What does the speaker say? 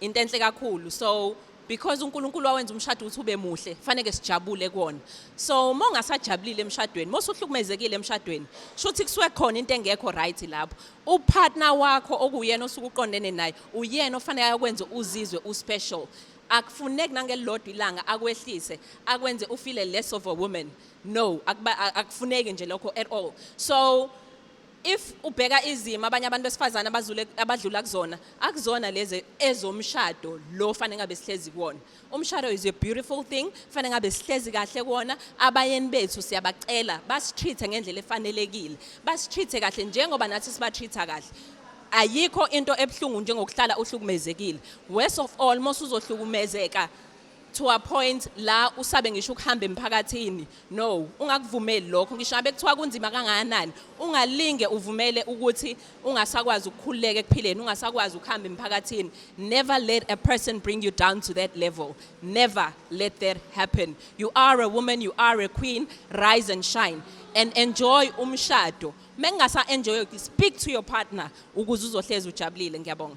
into enhle kakhulu so because uNkulunkulu wawenza umshado ukuthi ube muhle faneke sijabule kuona so uma ungasajabulile emshadweni uma usuhlukumezekile emshadweni shuthi kusuke khona into engekho right lapho upartner wakho okuyena osuke uqondene naye uyena ofanele ayokwenza uzizwe uspecial akufuneki nangelilodwa ilanga akwehlise akwenze ufile less of a woman no akufuneki nje lokho at all so If ubheka izimo abanye abantu besifazana abazule abadlula kuzona akuzona lezi ezomshado lo fanele ngabe sihlezi kuwona. Umshado is a beautiful thing fanele ngabe sihlezi kahle kuwona abayeni bethu siyabacela basitreat ngendlela efanelekile. Basitreat kahle njengoba nathi sibatreat kahle. Ayikho into ebuhlungu njengokuhlala uhlukumezekile. Worst of all mosuzohlukumezeka to a point la usabe ngisho ukuhamba emphakathini no ungakuvumeli lokho ngisho ngabe kuthiwa kunzima kangakanani ungalinge uvumele ukuthi ungasakwazi ukukhululeka ekuphileni ungasakwazi ukuhamba emphakathini never let a person bring you down to that level never let that happen you are a woman you are a queen rise and shine and enjoy umshado mengingasa enjoy speak to your partner ukuze uzohlezi ujabulile ngiyabonga